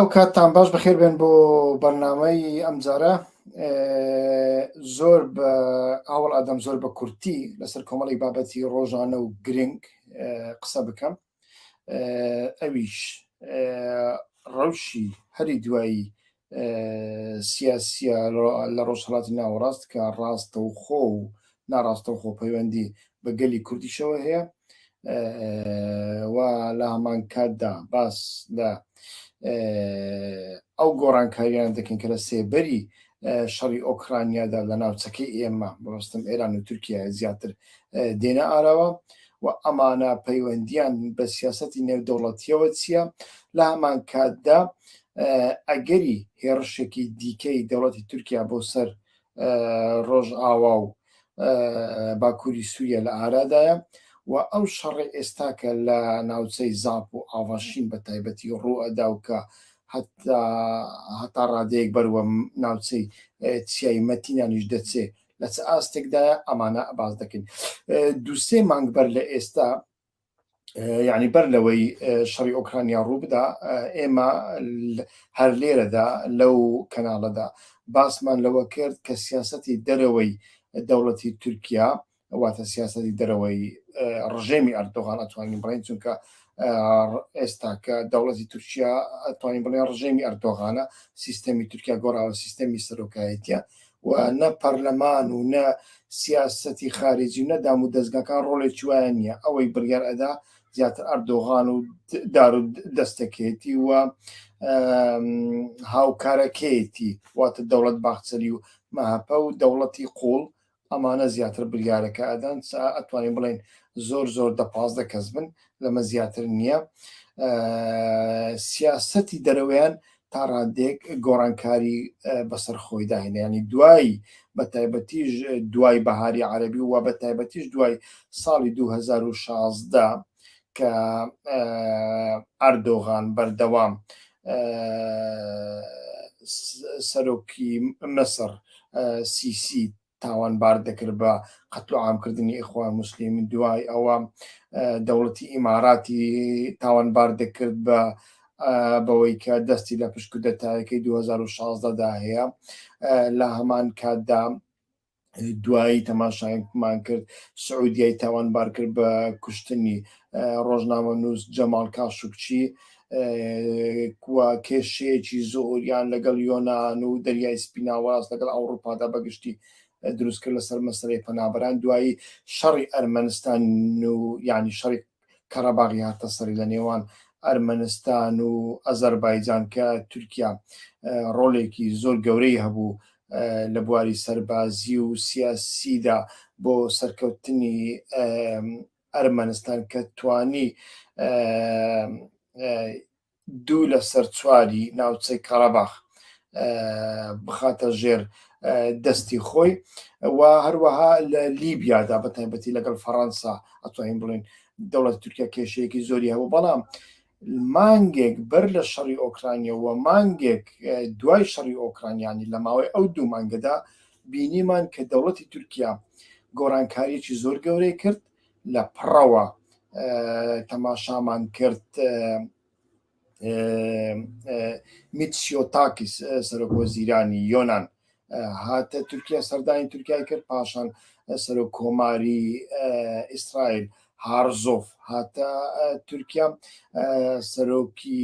ئەو کاتتان باش بەخێر بێن بۆ بەرنمەی ئەمجارە زۆر بە ئاوڵ ئادەم زۆر بە کورتی لەسەر کۆمەڵی بابەتی ڕۆژانە و گرنگ قسە بکەم ئەویش ڕەوشی هەری دوایی سیاسە لە ڕۆژهڵاتی ناوەڕاست کە ڕاستە و خۆ و ناڕاستە و خۆ پەیوەندی بە گەلی کوردیشەوە هەیە و لە هەمان کاتدا باس لە ئەو گۆڕانکاریان دەکەین کە لە سێبەری شەڕی ئۆکرانیادا لە ناوچەکەی ئێمە بڕستم ئێران و تورکیا زیاتر دێنە ئاراوە و ئەمانە پەیوەندیان بە سیاستی نێودەوڵەتیەوە چییە لە هەمان کاتدا ئەگەری هێڕشێکی دیکەی دەوڵەتی تورکیا بۆ سەر ڕۆژئاوا و باکووری سووریە لە ئارادایە و ئەو شەڕی ئێستا کە لە ناوچەی زاپ و ئاڤاشین بە تایبەتی ڕوو ئەدا و کە هەتا ڕادەیەک بەروە ناوچەی چیای مەتینانیش دەچێ لە چ ئاستێکدایە ئەمانە باز دەکەین دووسێ مانگ بەر لە ئێستا یعنی بەر لەوەی شەڕی ئۆکرانیا ڕوو بدا ئێمە هەر لێرەدا لەو کەناڵەدا باسمان لەوە کرد کە سیاستی دەرەوەی دەوڵەتی تورکیا واتە سیاستی دەرەوەی ڕژێمی ئەردۆغان ئەتوانین بڵین چونکە ئێستا کە دەوڵەتی تورکیا ئەتوانین بڵێن ڕژێمی ئەردۆغانە سیستەمی تورکیا گۆڕاوە سیستەمی سەرۆکایەتە و نە پەرلەمان و نە سیاسەتی خارجی و نە دام و دەزگاکان ڕۆڵێکی وایان نییە، ئەوەی بڕیار ئەدا زیاتر ئەردۆغان و دار و دەستەکەیەتی و هاوکارەکەیەتی واتە دەوڵەت باخچەلی و مەهەپە و دەوڵەتی قوڵ ئەمانە زیاتر بریارەکە ئەدەن ئەتوانین بڵێن زۆر زۆر دە پازدە کەس بن لەمە زیاتر نییە سیاستی دەرەوەیان تا ڕادێک گۆڕانکاری بەسەر خۆی داهێنانی دوایی بە تایبەتیش دوای بەهاری عەربی و بە تایبەتیش دوای ساڵی 2016 کە ئەردۆغان بەردەوام سەرۆکی مسر سیسی تاوانبار دەکرد بە قەتل و عامکردنی ئیخوان موسلیم دوای ئەوە دەوڵەتی ئیماراتی تاوانبار دەکرد بە بەوەی کە دەستی لە پشک و دەتایەکەی 2016دا هەیە لە هەمان کاتدا دوایی تەماشایمان کرد سعودیای تاوانبار کرد بە کوشتنی ڕۆژنامە نووس جەماڵ کاشوکچی کوە کێشەیەکی زۆریان لەگەڵ یۆناان و دەریای سپیناواز لەگەڵ ئەوروپادا بەگشتی دروستکرد لەسەر مەسەی پەنابران دوایی شەڕی ئەرمەنستان و ینی شەڕی کەڕەباغی هاتە سەری لە نێوان ئەرمەنستان و ئەزەربایجان کە تورکیا ڕۆلێکی زۆر گەورەی هەبوو لە بواری سەربازی و سیاسیدا بۆ سەرکەوتنی ئەرمەنستان کە توانی دوو لە سەر چواری ناوچەی کەڕەباخ بخاتە ژێر دەستی خۆی و هەروەها لە لیبیادا بە تایبەتی لەگەڵ فەڕەنسا ئەتوانین بڵین دەوڵەت تورکیا کێشەیەکی زۆری هەبوو بەڵام مانگێک بەر لە شەڕی ئۆکرانیا و مانگێک دوای شەڕی ئۆکرانیانی لە ماوەی ئەو دوو مانگەدا بینیمان کە دەوڵەتی تورکیا گۆڕانکاریی زۆر گەورەی کرد لە پڕەوە تەماشامان کرد میتسیۆتاکیس سەرۆک وەزیرانی یۆناان هاتە تورکیا سەردانی تورکای کرد پاشان سەرۆک کۆماری ئیسرائیل هارزۆف هاتە تورکیا سەرۆکی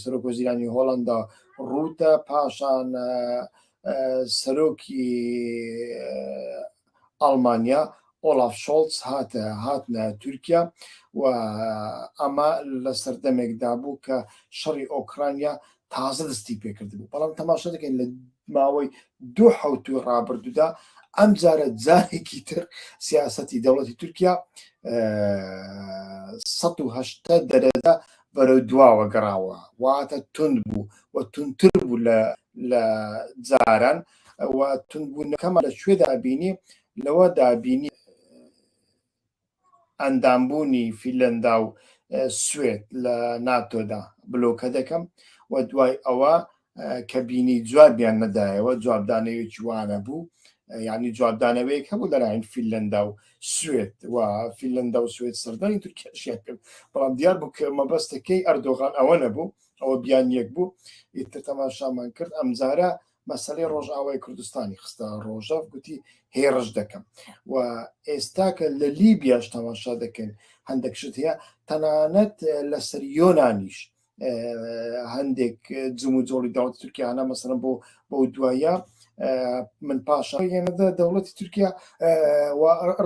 سەرۆک وەزیرانی هۆڵندا ڕوتە پاشان سەرۆکی ئەڵمانیا ئۆڵاف شۆڵتز هاتە هاتنە تورکیا و ئەمە لە سەردەمێک دابوو کە شەڕی ئۆکرانیا تازە دەستی پێکردبوو بەڵام تەماشا دەکەین لە ماوەی دوو حوتوی ڕابردوودا ئەم جارە جارێکی تر سیاستی دەوڵەتی تورکیا 1970 دەرەدا بەرەو دواوە گەڕاوە واتە تون بوو و تونتر بوو لە لە جاران و تونبوونەکەمان لە کوێ دابینی لەوە دابینی ئەندامبوونی فیلەندا و سوێت لە ناتۆدا بلۆکە دەکەم و دوای ئەوە کە بینی جوابیان نەدایەوە جوابدانەوەیەکی وانە بوو ینی جوابدانەوەیەک هەبوو لەلایەن فیلەندا و سوێت و فیلەندا و سوێت سەردانی تورکیاشیان کرد بەڵام دیار بوو کە مەبەستەکەی ئەردۆغان ئەوە نەبوو ئەوە بیان یەک بوو ئیتر تەماشامان کرد ئەمجارە مەسلەی ڕۆژئاوای کوردستانی خستە ڕۆژەف گوتی هێڕش دەکەم و ئێستا کە لە لیبیاش تەماشا دەکەن هەندێک شت هەیە تەنانەت لەسەر یۆنانیش هەندێک جم و جۆڵی داوت تورکیانە مەسەن بۆ بەو دوایە من پاشا یەنەدا دەوڵەتی تورکیا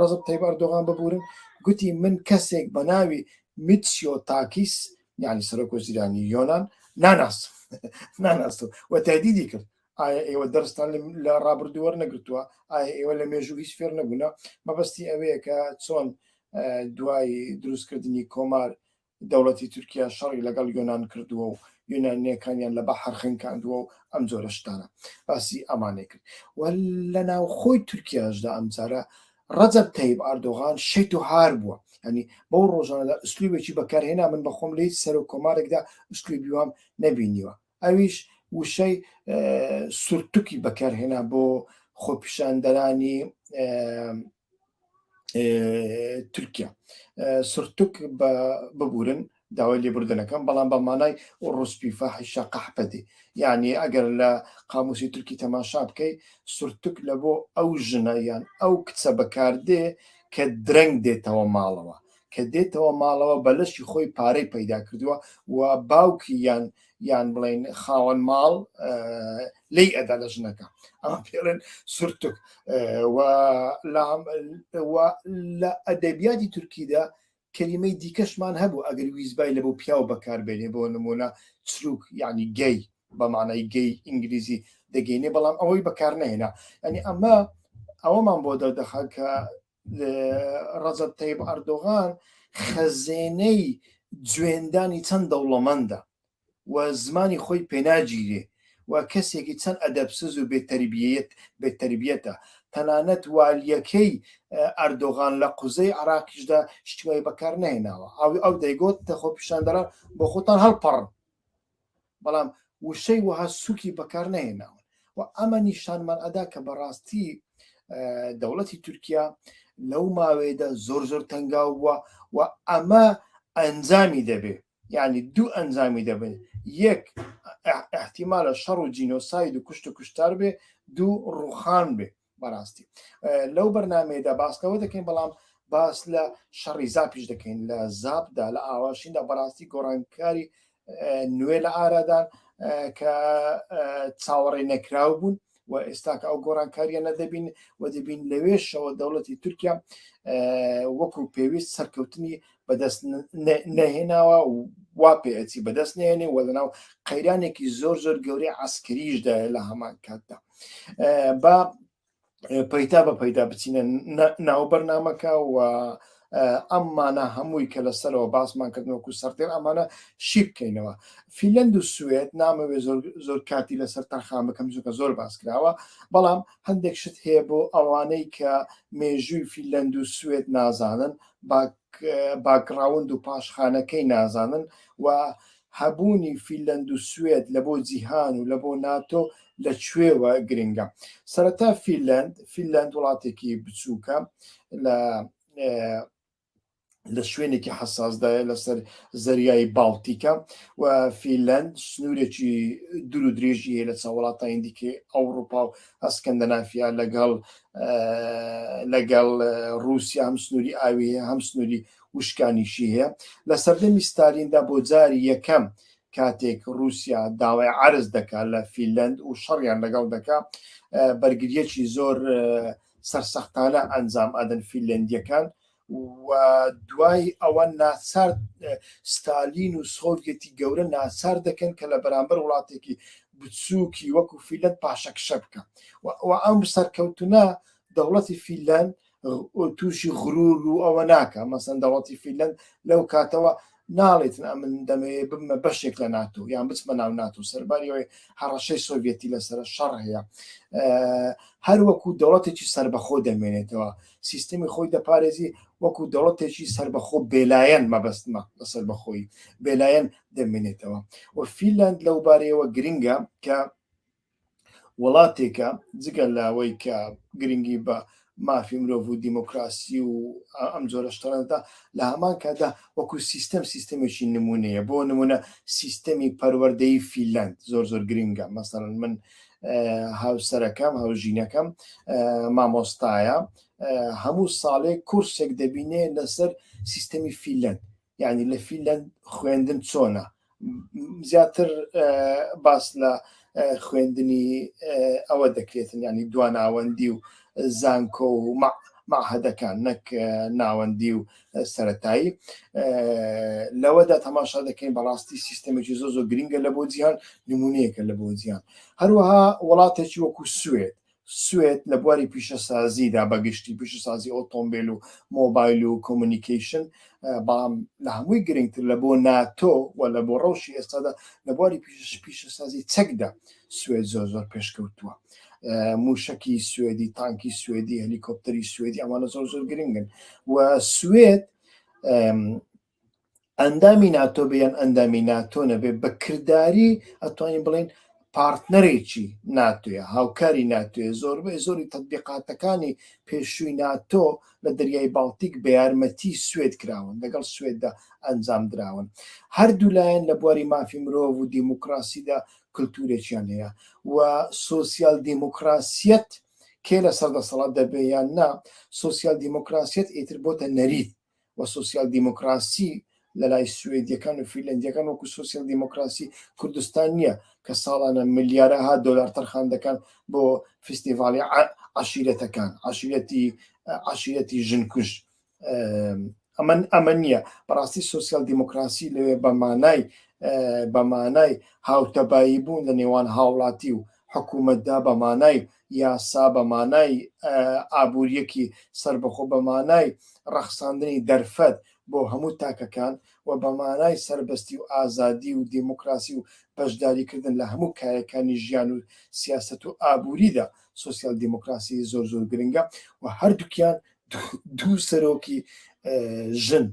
ڕزب تەیبار دۆغان ببورن گوتی من کەسێک بە ناوی میتسیۆ تاکیس یعنی سەرۆک وەزیرانی یۆنان ناناس ناناست و تایدیدی کرد ئایا ئێوە دەرستان لە ڕابردووەەر نەگرتووە ئایا ئێوە لە مێژوو هیچ فێر نەبوونا مەبەستی ئەوەیە کە چۆن دوای دروستکردنی کۆمار دەوڵەتی تورکیا شەڕی لەگەڵ یۆناان کردووە و یۆنانیەکانیان لە بە حرخنکاندووە و ئەم جۆرە شتانە باسی ئەمانێ کرد و لە ناوخۆی تورکیاشدا ئەمجارە ڕەجەب تەیب ئاردۆغان شێت و هار بووە هەنی بەو ڕۆژانەدا ئوسلوبێکی بەکارهێنا من بەخۆم لە هیچ سەرۆک کۆمارێکدا ئوسلوبی وام نەبینیوە ئەویش وشەی سورتوکی بەکارهێنا بۆ خۆپیشاندەرانی تورکیا سرتوک بە ببورن داوای لێبوردن ئەکەم بەڵام بە مانای ئوڕوسپی، فاحیشە، قەحپە دێ. یەعنی ئەگەر لە قاموسی تورکی تەماشا بکەی سورتوک لە بۆ ئەو ژنە یان ئەو کچە بە کار دێ کە درەنگ دێتەوە ماڵەوە. کە دێتەوە ماڵەوە بە لەشی خۆی پارەی پەیدا کردووە و باوکی یان یان بڵێین خاوەن ماڵ لێی ئەدا لە ژنەکە. ئەمە پێ ئەڵێن سورتوک. و لام و لە ئەدەبیاتی تورکیدا کەلیمەی دیکەشمان هەبوو ئەگەر ویستبای لەبۆ پیاو بەکاربێنێ بۆ نمونە چروک یعنی گەی بە مانای گەی ئینگلیزی دەگەینێ بەڵام ئەوەی بەکار نهێنا ینی ئەمە ئەوەمان بۆ دەردەخە کە ڕەزب تەیب ئەردۆغان خەزێنەی جوێندانی چەند دەوڵەمەندە و زمانی خۆی پێناگیرێ و کەسێکی چەند ئەدەبسز و بێ تەربیەتە، تەنانەت والیەکەی ئەردۆغان لە قوزەی عێراقیشدا شتی وای بەکار نەهێناوە، ئەو دەیگۆت کە خۆپیشاندەران بۆ خۆتان هەڵپەڕن، بەڵام وشەی وەها سوکی بەکار نەهێناون و ئەمە نیشانمان ئەدا کە بەڕاستی دەوڵەتی تورکیا لەو ماوەیەدا زۆر زۆر تەنگاو بووە و ئەمە ئەنجامی دەبێ. یانی دوو ئەنجامی دەبێت، یەک ئیحتیمالە شەڕ و جینۆساید و کوشت و کوشتار بێ، دوو ڕووخان بێ بەڕاستی لەو بەرنمەیەدا باس لەوە دەکەین بەڵام باس لە شەڕی زاپیش دەکەین لە زابدا لە ئاواشیندا بەڕاستی گۆڕانکاری نوێ لە ئارادان کە چاوەڕێ نەکراو بوون و ئێستاکە ئەو گۆڕانکاریە نەدەبین و دەبین لەوێشەوە دەوڵەتی تورکیا وەکو پێویست سەرکەوتنی بەدەست نەهێناوە و وا پێچی بەدەست نێنێ وە لەناو قەیرانێکی زۆر زۆر گەورەی عسکریشدا لە هەمان کاتدا با پەیتا بە پەیدا بچینە ناو بەرنمەکە و ئەمانە هەمووی کە لە سەرەوە باسمان کردن وەکو سەرتێن ئەمانە شی بکەینەوە فیلەند و سوێت نامەوێ زۆر کاتی لەسەر تەرخان بکەم چونکە زۆر باس کراوە بەڵام هەندێک شت هەیە بۆ ئەوانەی کە مێژووی فیلەند و سوێت نازانن باکراوند و پاشخانەکەی نازانن و هەبوونی فینلەند و سوێد لە بۆ جیهان و لە بۆ ناتۆ لە کوێوە گرنگە؟ سەرەتا فینلەند، فینلەند وڵاتێکی بچووکە لە لە شوێنێکی حساسدایە لەسەر زەریای باڵتیکە و فیلەند سنوورێکی دوور و درێژی هەیە لە چاوڵاتانی دیکە ئەوروپا و ئەسکەندەنافیا لەگەڵ لەگەڵ رووسیا هەم سنووری ئاوی هەم سنووری وشکانیشی هەیە لە سەردەمی ستالیندا بۆ جاری یەکەم کاتێک رووسیا داوای عەرز دەکات لە فیلەند و شەڕیان لەگەڵ دەکا بەرگریەکی زۆر سەرسەختانە ئەنجام ئەدەن فیلەندیەکان و دوای ئەوە ناچار ستالین و سۆڤەتی گەورە ناچار دەکەن کە لە بەرامبەر وڵاتێکی بچووکی وەکو فیلەت پاشەکشە بکە و ئەم سەرکەوتنە دەوڵەتی فیلەند تووشی غرور و ئەوە ناکە مەسەن دەوڵەتی فیلەن لەو کاتەوە ناڵێتن ئەمن دەمەیە بمە بەشێک لە ناتۆ یان بچمە ناو ناتۆ سەرباریەوەی هەڕەشەی سۆڤەتی لەسەر شەڕ هەیە هەر وەکو دەوڵەتێکی سربەخۆ دەمێنێتەوە سیستمی خۆی دەپارێزی وەکو دەوڵەتێکی سربەخۆ بێلایەن مەبەستمە لە سربەخۆی بێلایەن دەمێنێتەوە و فیلند لەو بارەیەوە گرنگە کە وڵاتێکە جگە لاوەی کە گرنگی بە مافی مرۆڤ و دیموکراسی و ئەم جۆرە شتانەدا لە هەمان کادا وەکو سیستەم سیستەمێکی نمونەیە بۆ نمونە سیستەمی پەروەردەی فیلند زۆر زۆر گرنگە مەسەرن من هاوسەرەکەم هاوژینەکەم مامۆستایە هەموو ساڵێک کورسێک دەبینێ لەسەر سیستەمی فیلند یعنی لە فیلەند خوێندن چۆنە زیاتر باس لە خوێندنی ئەوە دەکرێتن ینی دواناوەندی و زانکۆ و معهدەکان نەک ناوەندی و سەتایی لەوەدا تەماشا دەکەین بەڕاستی سیستەمێکی زۆ زۆ گرنگە لە بۆ جیهان نمونونەیەکە لە بۆ جیان هەروەها وڵاتێکی وەکو سوێت سوێد لە بواری پیشەسازیدا بە گشتی پیشەسازی ئۆتۆمبیل و مۆبایل و کۆمونیکیشن بەڵام لە هەمووی گرنگتر لە بۆ ناتۆ و لە بۆ ڕەوشی ئێستادا لە بواری پیشش پیشەسازی چەکدا سوێد زۆر زۆر پێشکەوتووە موشکی سوێدی تانکی سوێدی هەلیکۆپتەری سوێدی ئەمانە زۆر زۆر گرنگن و سوێد ئەندامی ناتۆ بێ یان ئەندامی ناتۆ نەبێ بە کردداری ئەتوانین بڵێن پارتنەرێکی ناتوێ هاوکاری ناتوێ زۆربەی زۆری تەبیقاتەکانی پێشووی ناتۆ لە دەریای باڵتیک بە یارمەتی سوێت کراون لەگەڵ سوێددا ئەنجام دراون هەردوو لایەن لە بواری مافی مرۆڤ و دیموکراسیدا کللتورێکیان هەیە و سوسیال دیموکراسیەت کێ لە سەردەسەڵات دەبێ یان نا سوسیال دیموکراسیەت ئیتر بۆتە نەریت و سۆسیال دیمۆکراسی لە لای سوێدیەکان و فیلەندیەکان وەکو سۆسیال دیمۆکراسی کوردستان نیە کە ساڵانە ملیارەها دۆلار تەرخان دەکەن بۆ فیستیڤاڵی عشیرەتەکان عشیرەتی عشیرەتی ژنکوش ئەمن ئەمە نییە بەڕاستی سوسیال دیموکراسی لەوێ بە مانای بە مانای هاوتەبایی بوون لە نێوان هاوڵاتی و حکوومەتدا بە مانای یاسا، بە مانای ئابوورییەکی سەربەخۆ، بە مانای ڕەخساندنی دەرفەت بۆ هەموو تاکەکان و بە مانای سەربەستی و ئازادی و دێمۆکڕاسی و بەشداریکردن لە هەموو کایەکانی ژیان و سیاسەت و ئابووریدا سۆسیال دێمۆکڕاسی زۆر زۆر گرنگە و هەردووکیان دوو سەرۆکی ژن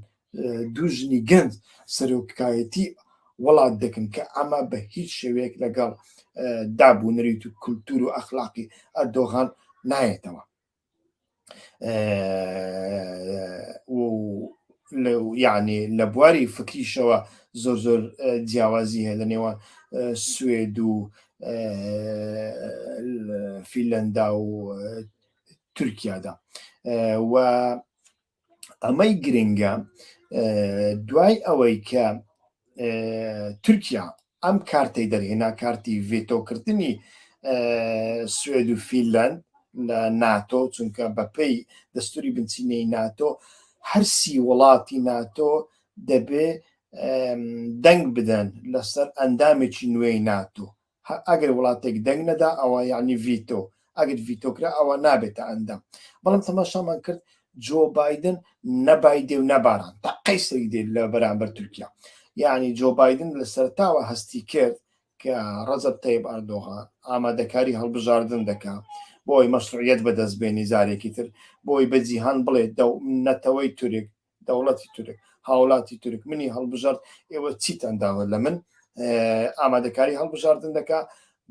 دوو ژنی گەنج سەرۆکایەتی وڵات دەکەن کە ئەمە بە هیچ شێوەیەک لەگەڵ دابوونەریت و کولتور و ئەخلاقی ئەردۆغان نایەتەوە یعنی لە بواری فکریشەوە زۆر زۆر جیاوازی هەیە لە نێوان سوێد و فیلەندا و تورکیادا و ئەمەی گرنگە دوای ئەوەی کە تورکیا ئەم کارتی دەرهێنا کارتی ڤێتۆکردنی سوێد و فیلند لە ناتۆ چونکە بەپی دەستوری بنچینەی ناتۆ هەرسی وڵاتی ناتۆ دەبێ دەنگ بدەن لەسەر ئەندامێکی نوێی ناتۆ هە ئەگەر وڵاتێک دەنگ نەدا ئەوە یعنی ڤیتۆ ئەگەر ڤیتۆ کرا ئەوە نابێتە ئەندام بەڵام تەماشامان کرد جۆ بادن نەبایدێ و نەباران تا قەیسەری دێت لە بەرامبەر تورکیا یعنی جۆ بادن لە سەرتاوە هەستی کرد کە ڕەزب تەیب ئەردۆغان ئامادەکاری هەڵبژاردن دەکا بۆی مەشروعیت بەدەست بێنی زارێکی تر بۆی بە جیهان بڵێت دە نەتەوەی تورک دەوڵەتی تورک هاوڵاتی تورک منی هەڵبژارد ئێوە چیتان داوە لە من ئامادەکاری هەڵبژاردن دەکا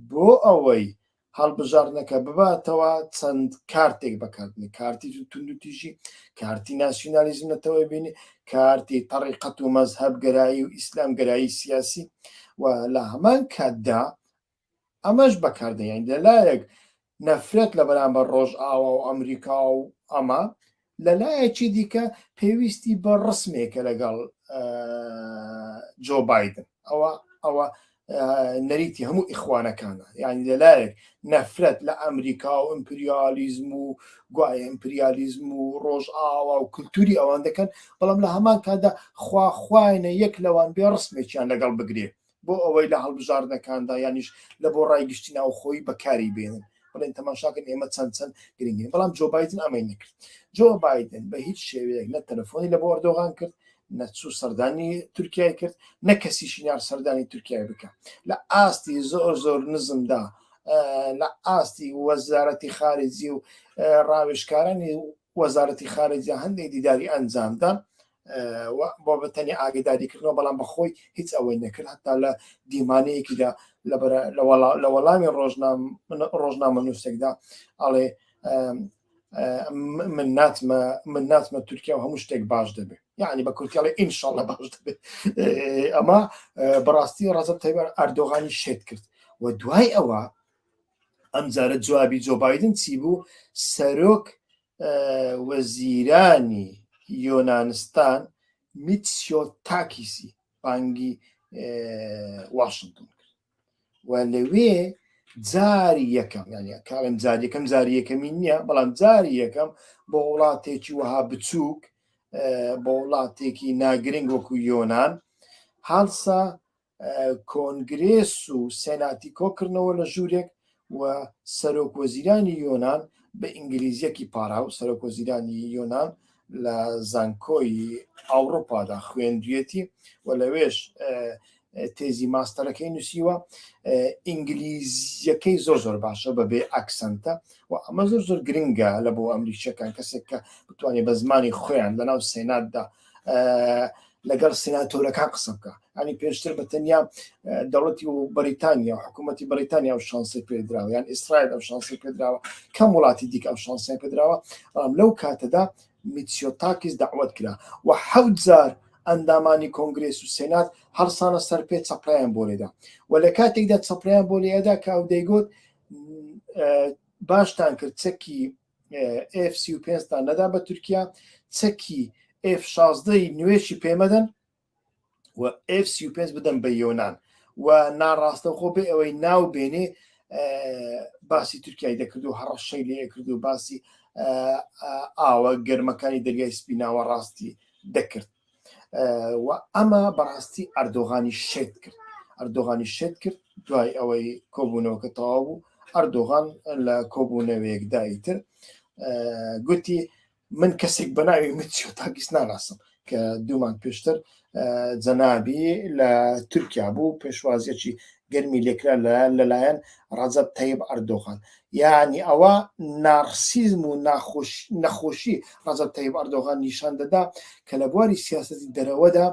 بۆ ئەوەی هەڵبژاردنەکە بباتەوە چەند کارتێک بەکاتنی کارتی توندوتیژی کارتی ناسیونالیزم نەتەوەی بینی کارتی تەڕیقەت و مەزهب گەرایی و ئیسلام گەرایی سیاسی و لە هەمان کاتدا ئەمەش بەکاردەهێنیت لەلایەک نەفرەت لە بەرامبەر ڕۆژئاوا و ئەمریکا و ئەمە لە لایەکی دیکە پێویستی بە ڕسمێکە لەگەڵ جۆ بادن ئەوە ئەوە نەریتی هەموو ئیخوانەکانە یعنی لەلایەک نەفرەت لە ئەمریکا و ئەمپریالیزم و گوایە ئەمپریالیزم و ڕۆژ ئاوا و کللتوری ئەوان دەکەن بەڵام لە هەمان کادا خواخواینە یەک لەوان بێ ڕسمێکیان لەگەڵ بگرێ بۆ ئەوەی لە هەڵبژاردنەکاندا یانیش لە بۆ ڕای گشتی ناوخۆی بەکاری بێنن بڵێن تەماشاکەن ئێمە چەند چەند گرنگین بەڵام جۆ بادن ئەمەی نەکرد جۆ بادن بە هیچ شێوەیەک نە تەلەفۆنی لە بۆ ئەردۆغان کرد نەچوو سەردانی تورکای کرد نە کەسیشی نار سەردانی تورکای بکە لە ئاستی زۆر زۆر نزمدا لە ئاستی وەزارەتی خارجی و ڕاوێشکارانی وەزارەتی خارجی هەندێک دیداری ئەنجامدا بۆ بەتەنی ئاگداریکردنەوە بەڵام بەخۆی هیچ ئەوەی نەکرد هەتا لە دیمانەیەکیدا لە وەڵامی ڕۆژنامە نووسێکدا ئەڵێ من ناتمە من ناتمە تورکیا و هەموو شتێک باش دەبێت یعنی بە کورتیاڵی ئینشاڵە باش دەبێت ئەمە بەڕاستی ڕزب تەبار ئەردۆغانی شێت کرد و دوای ئەوە ئەمجارە جوابی جۆبایدن چی بوو سەرۆک وەزیرانی یۆنانستان میتسیۆ تاکیسی بانگی واشنگتن کرد و لەوێ جاری یەکەم یعنی کاڵم جار یەکەم جاری یەکەمی نییە بەڵام جاری یەکەم بۆ وڵاتێکی وەها بچووک بۆ وڵاتێکی ناگرنگ وەکو یۆناان هاڵسا کۆنگرێس و سێناتی کۆکردنەوە لە ژوورێک و سەرۆک وەزیرانی یۆنان بە ئینگلیزیەکی پاراو سەرۆک وەزیرانی یۆنان لە زانکۆی ئاوروپادا خوێندویەتی و لەوێش تێزی ماستەرەکەی نووسیوە ئینگلیزیەکەی زۆر زۆر باشە بەبێ ئەکسنتە و ئەمە زۆر زۆر گرنگە لە بۆ ئەمریکیەکان کەسێک کە بتوانێت بە زمانی خۆیان لەناو سێناتدا لەگەڵ سیناتۆرەکان قسە بکە ئەنی پێشتر بە تەنیا دەوڵەتی و بەریتانیا حکوومەتتی بەریتانیا و شانسی پێدراوە یان ئیسرائیل ئەو شانسی پێدراوە کەم وڵاتی دیکە ئەو شانسی پێدراوە بەڵام لەو کاتەدا میتسیۆتاکیس داوت کرا و حەوت جار ئەندامانی کۆنگرس و سێنات هەڵسانە سەر پێ چەپرایان بۆ لێدا و لە کاتێکدا چەپریان بۆ لێدا کە ئەو دەیگوت باشتان کرد چەکی ئف سی و پێنجتان نەدا بە تورکیا چەکی ئف شازدەی نوێشی پێمەدەن و ئف سی و پێنج بدەم بە یۆناان و ناڕاستەخۆ بێ ئەوەی ناو بێنێ باسی تورکای دەکرد و هەڕەشەی لێ کرد و باسی ئاوە گەرمەکانی دەریای سپیناوە ڕاستی دەکرد و ئەمە بەڕاستی ئەردۆغانی شێت کرد ئەردۆغانی شێت کرد دوای ئەوەی کۆبوونەوەکە تەواو بوو ئەردۆغان لە کۆبوونەوەیەکدایی تر گوتی من کەسێک بە ناوی مچۆ تاکیس ناناسم کە دوومان پێشتر جەنابی لە تورکیا بوو پێشوازیەکی گەرمی لێکرا لەلایەن لەلایەن ڕەجەب تەیب ئەردۆغان یانی ئەوە نارسیزم و ناخۆش نەخۆشی ڕەجەب تەیب ئەردۆغان نیشان دەدا کە لە بواری سیاسەتی دەرەوەدا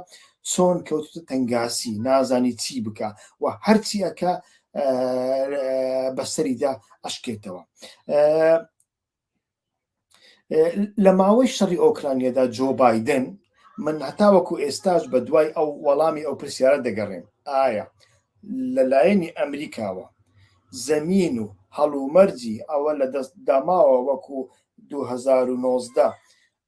چۆن کەوتتە تەنگاسی نازانی چی بکە و هەرچی ئەکە بەسەریدا ئەشکێتەوە لە ماوەی شەڕی ئۆکرانیەدا جۆ بادن من هەتاوەکو ئێستاش بە دوای ئەو وەڵامی ئەو پرسیارە دەگەڕێن ئایا لەلایەنی ئەمریکاوە زەمین و هەڵومەرجی ئەوە لە دەست داماوە وەکو 2019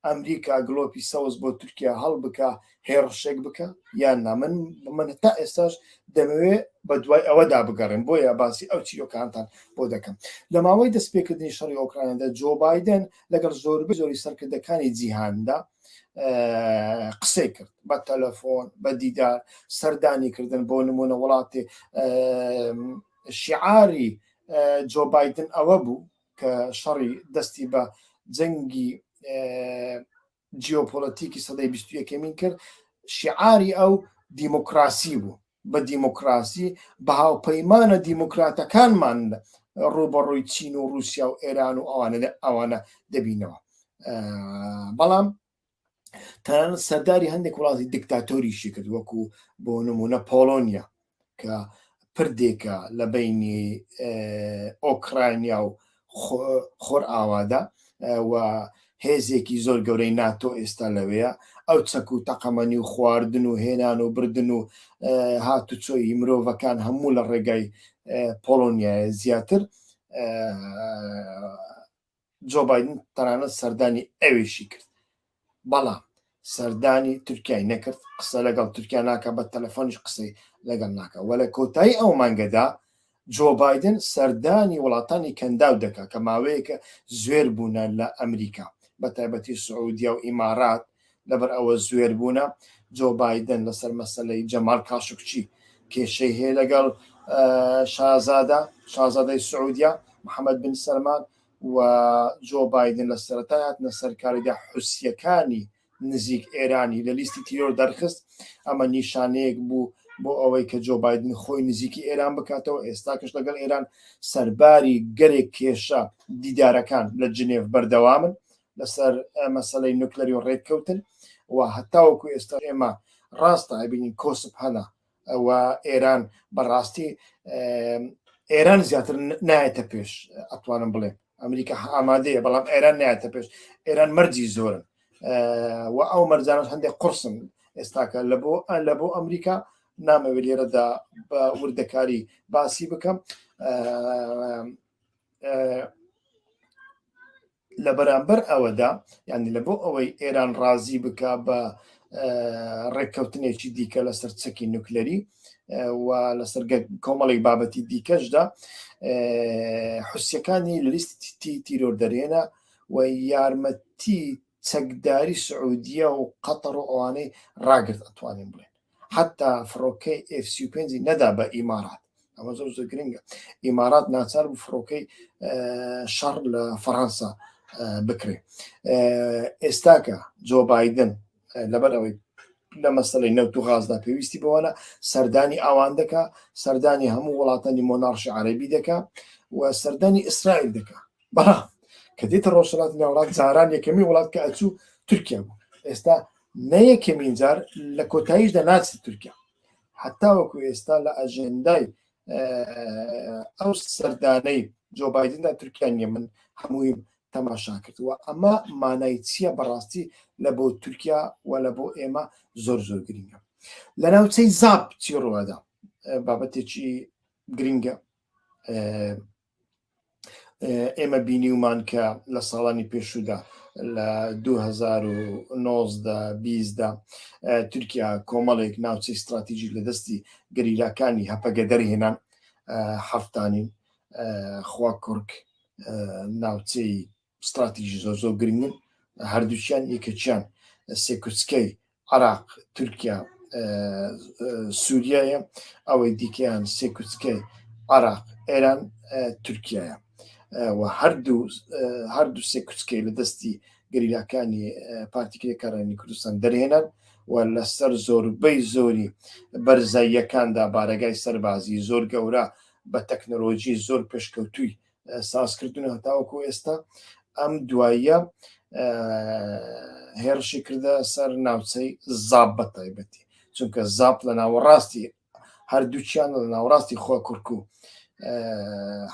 ئەمریکا گڵۆپی سەوز بۆ تورکیا هەڵبکا هێڕشێک بکا یان نا من من تا ئێستاش دەمەوێ بە دوای ئەوەدا بگەڕێم بۆیە باسی ئەو چیرۆکانتان بۆ دەکەم لە ماوەی دەستپێکردنی شەڕی ئۆکرایندا جۆ بادن لەگەڵ زۆربەی زۆری سەرکردەکانی جیهاندا قسەی کرد بە تەلەفۆن بە دیدار سەردانی کردن بۆ نمونە وڵاتی شعاری جۆ بادن ئەوە بوو کە شەڕی دەستی بە جەنگی جیۆپۆلەتیکی سەدەی بیست یەکەمین کرد شیعاری ئەو دیموکراسی بوو بە دیموکراسی بە هاوپەیمانە دیموکراتەکانمان ڕوبەڕووی چین و رووسیا و ئێران و ئەوانە ئەوانە دەبینەوە بەڵام تەنانەت سەرداری هەندێک وڵاتی دیکتاتۆریشی کرد وەکو بۆ نمونە پۆڵۆنیا کە پردێکە لە بینی ئۆکراینیا و خۆر ئاوادا و هێزێکی زۆر گەورەی ناتۆ ئێستا لەوەیە ئەو چەک و تەقەمەنی و خواردن و هێنان و بردن و هاتوچۆی مرۆڤەکان هەموو لە ڕێگای پۆڵۆنیایە زیاتر جۆ بایدن تەنانەت سەردانی ئەوێشی کرد، بەڵام سەردانی تورکیای نەکرد، قسە لەگەڵ تورکیا ناکات، بە تەلەفۆنیش قسەی لەگەڵ ناکات و لە کۆتایی ئەو مانگەدا جۆ بایدن سەردانی وڵاتانی کەنداو دەکات کە ماوەیەکە زوێر بوونە لە ئەمریکا، بەتایبەتی سعودیە و ئیمارات. لەبەر ئەوە زوێر بوونە جۆ بایدن لەسەر مەسەلەی جەمال کاشکچی کێشەی هەیە لەگەڵ شازادە شازادەی سعودیا محەممەد بن سەرمان و جۆ بایدن لە سەرەتا هاتنە سەرکاریدا حوسیەکانی نزیک ئێرانی لە لیستی تیۆر دەرخست ئەمە نیشانەیەک بوو بۆ ئەوەی کە جۆ بایدن خۆی نزیکی ئێران بکاتەوە ئێستا کەش لەگەڵ ئێران سەرباری گەرێک کێشە دیدارەکان لە جنێف بەردەوامن لەسەر مەسلەی نوکلەری و ڕێککەوتن و هەتاوەکو ئێستا ئێمە ڕاستە ئەبینین کۆسپ هەنا و ئێران بەڕاستی ئێران زیاتر نایەتە پێش ئەتوانم بڵێ ئەمریکا ئامادەیە بەڵام ئێران نایەتە پێش ئێران مەرجی زۆرن و ئەو مەرجانش هەندێک قرسن ئێستاکە لە بۆ لە بۆ ئەمریکا نامەوێت لێرەدا بە وردەکاری باسی بکەم لە بەرامبەر ئەوەدا یعنی لە بۆ ئەوەی ئێران ڕازی بک بە ڕێککەوتنێکی دیکە لەسەر چەکی نوکلەری و لەسەر کۆمەڵێک بابەتی دیکەشدا حوسەکانی لە لیستی تیرۆر دەرێنە و یارمەتی چەکداری سعودیە و قەتەڕ و ئەوانەی ڕاگرت ئەتوانین بڵێن حەتا فڕۆکەی ئێف سی و پێنجی نەدا بە ئیمارات ئەمە زۆر زۆر گرنگە ئیمارات ناچار بوو فڕۆکەی شەڕ لە فەڕەنسا بکرێ ئێستاکە جۆ بادن لەبەر ئەوەی لە مەسلەی نەوت و غازدا پێویستی بەوەە سەردانی ئاوان دەکا سەردانی هەموو وڵاتانی مۆناڕشی عربی دەکا و سەردانی ئیسرائیل دەکا بەڵام کە دێتە ڕۆژهڵاتی ناوڵات زاران یەکەمی وڵات کە ئەچوو تورکیا بوو ئێستا نەیەکەمین جار لە کۆتاییشدا ناچێت تورکیا حتا وەکو ئێستا لە ئەژێندای ئەو سەردانەی جۆ بادندا تورکیا نیە من هەمووی تەماشا کردووە ئەمە مانای چییە بەڕاستی لە بۆ تورکیا و لە بۆ ئێمە زۆر زۆر گرنگە لە ناوچەی زاب چی ڕوەدا بابەتێکی گرنگە ئێمە بینیومان کە لە ساڵانی پێشودا لە 2009دا تورکیا کۆمەڵێک ناوچەی استراتیژی لە دەستی گەریلاکانی هەپەگە دەرهێنان حفتانین خوا کوڕک ناوچەی ستراتیژی زۆر زۆر گرنگن هەردووچیان یەکێکیان سێکوچکەی عراق تورکیا سووریایە ئەوەی دیکەیان سێکوچکەی عراق ئێران تورکایە و هەردوو هەردوو سێ کوچکەی لە دەستی گەریلاکانی پارتیکرێکارانی کوردستان دەرهێنان و لەسەر زۆربەی زۆری بەرزاییەکاندا بارەگای سەربازی زۆر گەورە بە تەکنەلۆژی زۆر پێشکەوتووی سازکردن هەتاوەکو ئێستا ئەم دواییە هێرشی کردە سەر ناوچەی زاب بە تایبەتی چونکە زاپ لە ناوەڕاستی هەردووچیان لە ناوڕاستی خۆ کورک و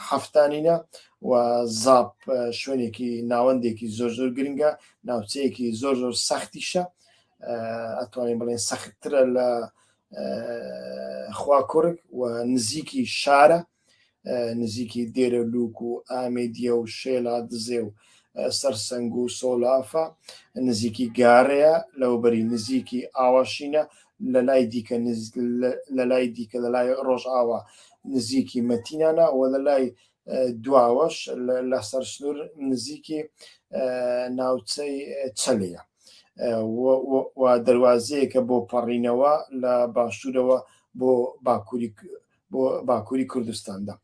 هەفتانینە و زاپ شوێنێکی ناوەندێکی زۆر زۆر گرنگە ناوچەیەکی زۆر زۆر سەختیشە ئەتوانین بڵێن سەختترە لە خوا کورک و نزیکی شارە نزیکی دێرە لوک و ئامێدیە و شێلا دزێ و سەرسەنگ و سۆلافە نزیکی گارەیە لەوبەری نزیکی ئاواشینە لە لای دیکە لە لای دیکە لە لای ڕۆژئاوا نزیکی مەتینانە و لە لای دواوەش لە سەر سنوور نزیکی ناوچەی چەلەیە و دەواازەیەکە بۆ پەڕینەوە لە باشوورەوە بۆ باکووری بۆ باکووری کوردستاندا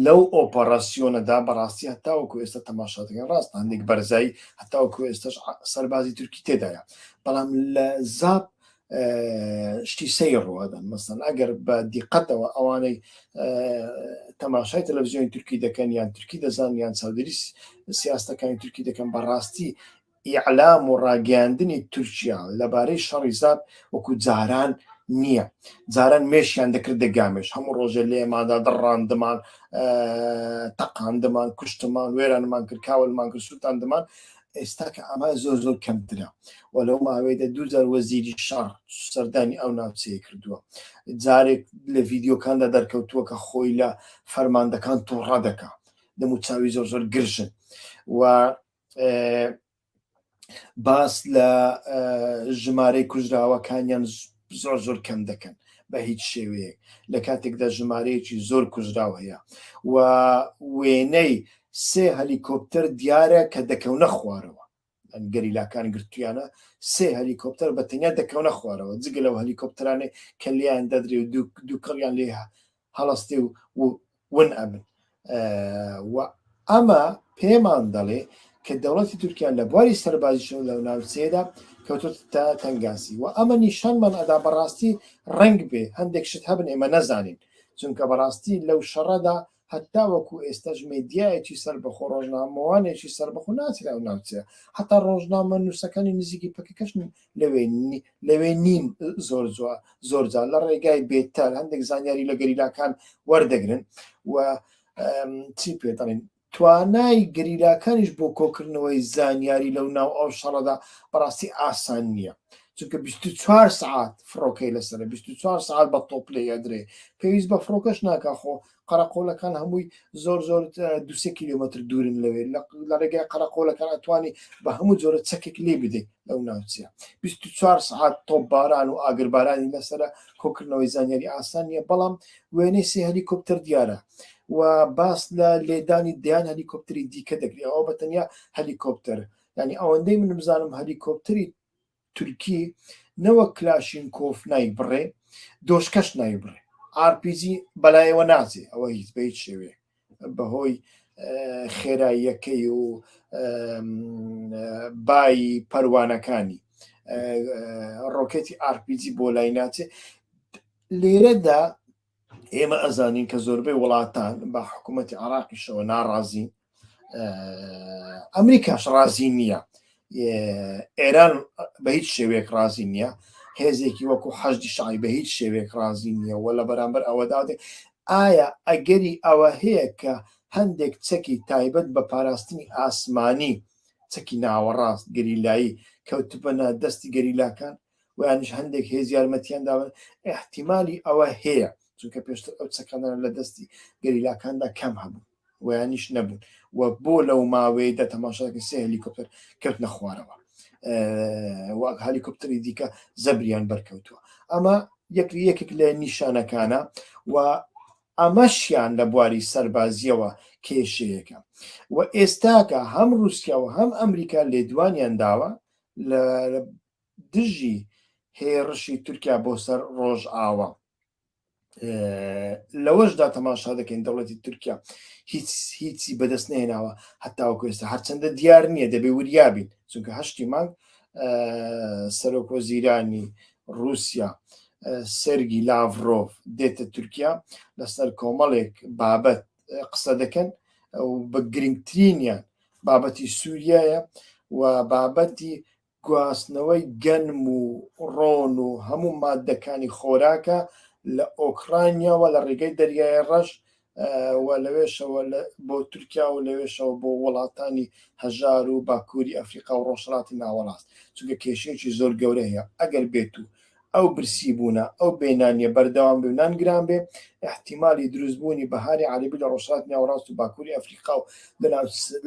لەو ئۆپەراسیۆنەدا بەڕاستی هەتاوەکو ئێستا تەماشاتەکە ڕاست هەندێک بەرزایی هەتاوەکو ئێستش سەربازی تورکی تێدایە بەڵام لە زاب شتی سەی ڕوادەن مەسەن ئەگەر بە دیقەتەوە ئەوانەی تەماشای تەلەڤزیۆنی تورکی دەکەن یان تورکی دەزان یان چاودێری سیاستەکانی تورکی دەکەن بەڕاستی ئیعلام و ڕاگەیاندنی تورکیا لەبارەی شەڕی زاپ وەکو جاران نییە جاران مێشیان دەکردە گامێش هەموو ڕۆژێ لێمادا دڕاندمان تەقاندمان کوشتمان وێرانمان کرد کاولمان کرد سووتاندمان ئێستا کە ئەمە زۆر زۆر کەمترە و لەو ماوەیەدا دوجار وەزیری شار سەردانی ئەو ناوچەیە کردووە جارێک لە ڤیددیوکاندا دەرکەوتووە کە خۆی لە فەرماندەکان تووڕە دەکە دەمو چاوی زۆر زۆر گرژن و باس لە ژمارەی کوژراوەکانیان زۆر زۆر کەم دەکەن بە هیچ شێوەیەک لە کاتێکدا ژمارەیەکی زۆر کوژراو هەیە و وێنەی سێ هەلیکۆپتەر دیارە کە دەکەونە خوارەوە گەریلاکان گرتویانە سێ هەلیکۆپتەر بە تەنیا دەکەونە خوارەوە جگە لەو هەلیکۆپتەرانێ کە لیان دەدرێ و دووکەڵیان لێ هەڵەستی و ون ئەبن و ئەمە پێمان دەڵێ کە دەوڵەتی تورکیا لە بواری سەربازیشن لەو ناوچەیەدا کەوتوت تا تەنگاسی و ئەمە نیشانمان ئەدا بەڕاستی ڕنگ بێ هەندێک شت هەبن ئێمە نەزانین چونکە بەڕاستی لەو شەڕەدا هەتا وەکو ئێستاش مێدیایەکی سەر بەخۆ ڕۆژنامەوانێکی سەر بەخۆ ناچرا و ناوچەیە هەتا ڕۆژنامە نووسەکانی نزیکی پکەکەشن لەوێ لەوێ نین زۆر زۆرجا لە ڕێگای بێتەر هەندێک زانیاری لە گەریلاکان وەردەگرن و چی پێ دەڵین توانای گەریلاکانیش بۆ کۆکردنەوەی زانیاری لەو ناو ئەو شەڕەدا بەڕاستی ئاسان نییە چونکە 24 سعات فڕۆکەی لەسەر 24 سعات بە تۆپ لێ ئەدرێ پێویست بە فڕۆکەش ناکە خۆ قەرەقۆلەکان هەمووی زۆر زۆر دوسێ کیلومتر دوورن لەوێ لە ڕێگای قەرەقۆلەکان ئەتوانی بە هەموو جۆرە چەکێک لێ بدەیت لەو ناوچە 24 سعات تۆپ باران و ئاگربارانی لەسرە کۆکردنەوەی زانیاری ئاسان نیە بەڵام وێنەی سێ هەلیکۆپتەر دیارە و باس لە لێدانی دیان هەلیکۆپتری دیکە دەکری ئەوە بە تەنیا هەلیکۆپتەر ینی ئەوەندەی من بزانم هەلیکۆپتری تورکی نەوەک کلاشینکۆف نایبڕێ دۆشکەش نایبڕێ ئارپیجی بەلایەوە ناچێ ئەوە هیچ بە هیچ شێوێ بەهۆی خێراییەکەی و بایی پەروانەکانی ڕۆکێتی ئارپیجی بۆ لای ناچێ لێرەدا ئێمە ئەزانین کە زۆربەی وڵاتان بە حکوومەتتی عراقیشەوە ناڕازین ئەمریکاش ڕازی نییە ئێران بە هیچ شێوەیەک ڕازی نییە هێزێکی وەکو حەجدی شای بە هیچ شێوێک ڕازی نییە و لە بەرامبەر ئەوەدادێ ئایا ئەگەری ئەوە هەیە کە هەندێک چەکی تایبەت بە پاراستنی ئاسمانی چەکی ناوەڕاست گەریلایی کەوتبنە دەستی گەریلاکان ویانش هەندێک هێز یارمەتیان داون احتیممالی ئەوە هەیە چونکە پێشتر ئەو چەکانە لە دەستی گەریلاکاندا کەم هەبوو ویانیش نەبوون و بۆ لەو ماوەیە دە تەماشاکە سێ هەلیکۆپتەر کەوت نەخوارەوە وەک هەلیکۆپتری دیکە زەبریان بەرکەوتووە ئەمە یەک یەکێک لە نیشانەکانە و ئەمەشیان لە بواری سەربازیەوە کێشەیەەکە و ئێستاکە هەم رووسیا و هەم ئەمریکا لێدوانیان داوە لە دژی هێڕشی تورکیا بۆ سەر ڕۆژئاوا لەوەشدا تەماشا دەکەین دەوڵەتی تورکیا هیچ هیچی بەدەست نێناوە هەتاوەکو ئێستا هەرچەندە دیار نییە دەبێ وریابین چونکە هەشتی مانگ سەرۆک وەزیرانی رووسیا سەرگی لاڤرۆڤ دێتە تورکیا لەسەر کۆمەڵێک بابەت قسە دەکەن و بە گرنگترینیان بابەتی سووریایە و بابەتی گواستنەوەی گەنم و ڕۆن و هەموو ماددەکانی خۆراکە لە ئۆکڕانیاوە لە ڕێگەی دەریای ڕەش و لەوێشەوە بۆ تورکیا و لەوێشەوە بۆ وڵاتانی هەژار و باکووری ئەفریقا و ڕۆژهەڵاتی ناوەڕاست چونکە کێشەیەکی زۆر گەورە هەیە ئەگەر بێت و ئەو برسی بوونە، ئەو بێ نانیە بەردەوام بێ و نان گران بێ، ئیحتیمالی دروست بوونی بەهاری عەرەبی لە ڕۆژهەڵاتی ناوەڕاست و باکووری ئەفریقا و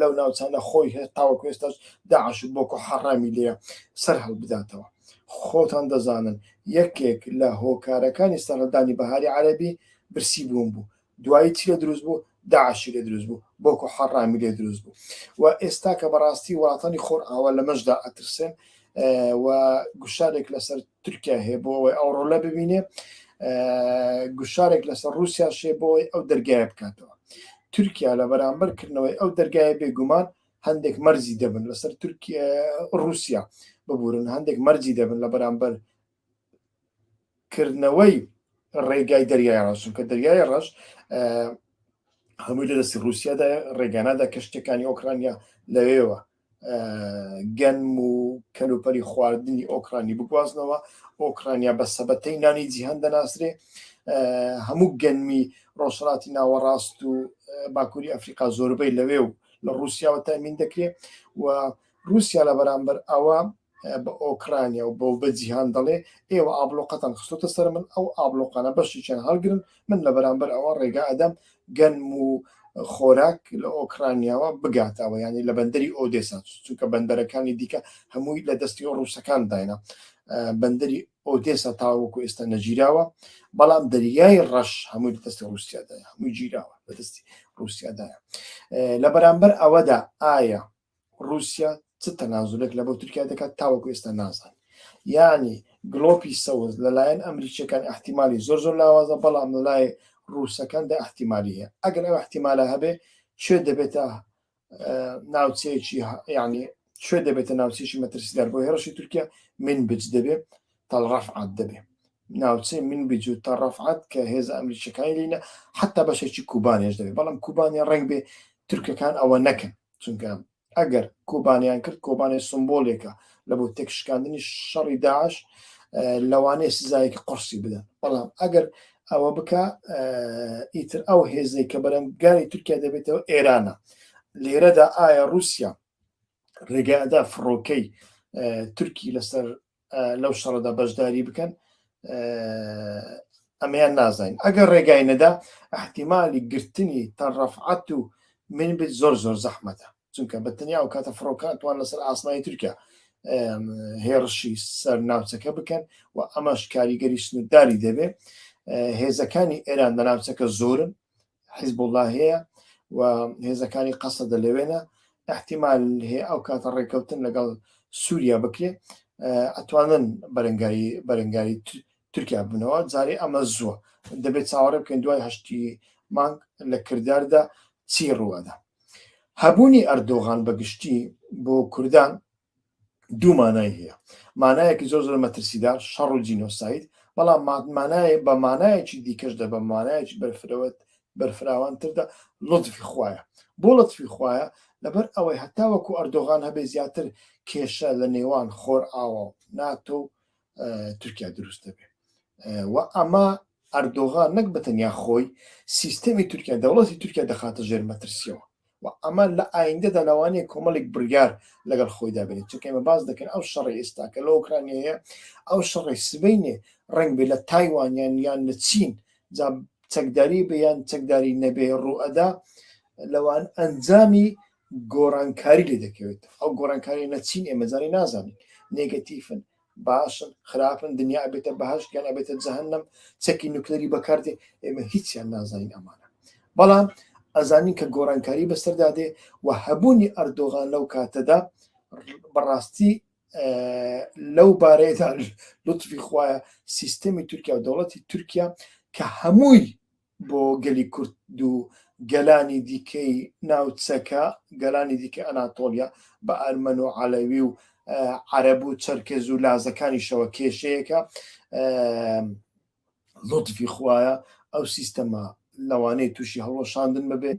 لەو ناوچانە خۆی هەست تاوەکو ئێستاش داعش و بۆکۆ حەڕامی لێیە سەر هەڵبداتەوە. خۆتان دەزانن یەکێک لە هۆکارەکانی سەرهەڵدانی بەهاری عەرەبی برسی بوون بوو، دوایی چی لێ دروست بوو داعشی لێ دروست بوو بۆکو حەڕامی لێ دروست بوو و ئێستا کە بەڕاستی وڵاتانی خۆرئاوا لەمەشدا ئەترسێن و گوشارێک لەسەر تورکیا هەیە بۆ ئەوەی ئەو ڕۆلە ببینێ گوشارێک لەسەر رووسیا شێ بۆی ئەو دەرگایە بکاتەوە تورکیا لە بەرامبەر کردنەوەی ئەو دەرگایە بێگومان هەندێک مەرزی دەبن لەسەر تورکیا رووسیا ببورن هەندێک مەرجی دەبن لە بەرامبەر کردنەوەی ڕێگای دەریای ڕەش چونکە دەریای ڕەش هەمووی لە دەستی رووسیادا ڕێگانادا کە شتەکانی ئۆکرانیا لەوێوە گەنم و کەلوپەری خواردنی ئۆکرانی بگوازنەوە ئۆکرانیا بە سەبەتەی نانی جیهان دەناسرێ هەموو گەنمی ڕۆژهڵاتی ناوەڕاست و باکووری ئەفریقا زۆربەی لەوێ و لە ڕوسیاوە تامین دەکرێت و روسیا لە بەرامبەر ئەوە بە ئۆکرانیا و بەو بە جیهان دەڵێ ئێوە ئابلۆقەتان خستۆتە سەر من ئەو ئابلۆقانە بەشێکیان هەڵگرن من لە بەرامبەر ئەوە ڕێگا ئەدەم گەنم و خۆراک لە ئۆکرانیاوە بگاتەوە ینی لە بەندەری ئۆدێسا چونکە بەندەرەکانی دیکە هەمووی لە دەستی ڕووسەکان داینە بەندەری ئۆدێسا تاوەکو ئێستا نەگیراوە بەڵام دەریای ڕەش هەمووی لە دەستی ڕووسیادای هەمووی گیراوە لە دەستی ڕووسیادایە لە بەرامبەر ئەوەدا ئایا ڕوسیا چ تەنازولێک لەبۆ تورکیا دەکات تاوەکو ئێستا نازانین یانی گڵۆپی سەوز لەلایەن ئەمریکیەکان ئەحتیمالی زۆر زۆر لاوازە بەڵام لەلای ڕوسەکان دا ئەحتیمالی هەیە ئەگەر ئەو ئەحتیمالە هەبێ شوێ دەبێتە ناوچەیەکی یعنی شوێ دەبێتە ناوچێکی مەترسیدار بۆ هێرشی تورکیا من بچ دەبێ تەڵڕەفعات دەبێ ناوچەی من بج و تەڕەفعات کە هێز ئەمریکیەکانی لینە حتا بەشێکی کوبانێش دەبێت بەڵام کوبانێ ڕنگ بێ تورکەکان ئەوە نەکەن چونکە ئەگەر کۆبانیان کرد کۆبانێ سمبۆلێکە لە بۆ تێکشکاندنی شەڕی داعش لەوانەیە سزایەکی قڕسی بدەن بەڵام ئەگەر ئەوە بکە ئیتر ئەو هێزەی کە بەرەنگاری تورکیا دەبێتەوە ئێرانە لێرەدا ئایا رووسیا ڕێگەدا فڕۆکەی تورکی لەسەر لەو شەڕدا بەشداری بکەن ئەمەیان نازانین ئەگەر ڕێگای نەدا احتیممالی گرتنی تەڕەفعات و من بێت زۆر زۆر زەحمەتە چونکە بە تەنیا و کاتە فڕۆکاتوان لەسەر ئاسمانی تورکیا هێڕشی سەر ناوچەکە بکەن و ئەمەش کاریگەری سنوورداری دەبێت هێزەکانی ئێران لە ناوچەکە زۆرن حیزبوڵا هەیە و هێزەکانی قەسەدە لەوێنە احتیمال هەیە ئەو کاتە ڕێککەوتن لەگەڵ سووریا بکرێ ئەتوانن بەرەنگاری بەرەنگاری تورکیا بنەوە جارێ ئەمە زووە دەبێت چاوەڕێ بکەین دوای هەشتی مانگ لە کرداردا چی ڕووەدا هەبوونی ئەردۆغان بەگشتی بۆ کوردان دوو مانای هەیە مانایەکی زۆر زۆر مەترسیدار شەڕ و جینۆساید بەڵام مانایە بە مانایەکی دیکەش دە بە مانایەکی بەرفرەوەت بەرفراوانتردا لطفی خویە بۆ لطفی خویە لەبەر ئەوەی هەتا وەکو ئەردۆغان هەبێ زیاتر کێشە لە نێوان خۆر ئاوا ناتۆ و تورکیا دروست دەبێت و ئەمە ئەردۆغان نەک بە تەنیا خۆی، سیستەمی تورکیا، دەوڵەتی تورکیا دەخاتە ژێر مەترسییەوە و ئەمە لە ئایندەدا لەوانەیە کۆمەڵێک بڕیار لەگەڵ خۆیدا بێنێت، چونکە ئێمە باس دەکەین ئەو شەڕی ئێستا کە لە ئۆکرانیا هەیە، ئەو شەڕەی سبەینێ ڕەنگ بێ لە تایوان یان یان لە چین، جا چەکداری بێ یان چەکداری نەبێ ڕوو ئەدا، لەوان ئەنجامی گۆڕانکاری لێ دەکەوێت، ئەو گۆڕانکارییە نە چین ئێمە جارێ نازانین، نێگەتیفن، باشن خراپن دنیا ئەبێتە بەهش گیان ئەبێتە جەهنم چەکی نوکلری بەکاردێ ئێمە هیچیان نازانین ئەمانە بەڵام ئەزانین کە گۆڕانکاری بەسەردا دێ و هەبوونی ئەردۆغان لەو کاتەدا بەڕاستی لەو بارەیەدا لطفی خوایە سیستەمی تورکیا و دەوڵەتی تورکیا کە هەمووی بۆ گەلی کورد و گەلانی دیکەی ناوچەکە، گەلانی دیکەی ئەناتۆڵیا، بە ئەرمەن و عەلەوی و عەرەب و چەرکێز و لازەکانیشەوە کێشەیەکە. لوتفی خوایە ئەو سیستەمە لەوانەیە تووشی هەڵوەشاندن ببێت،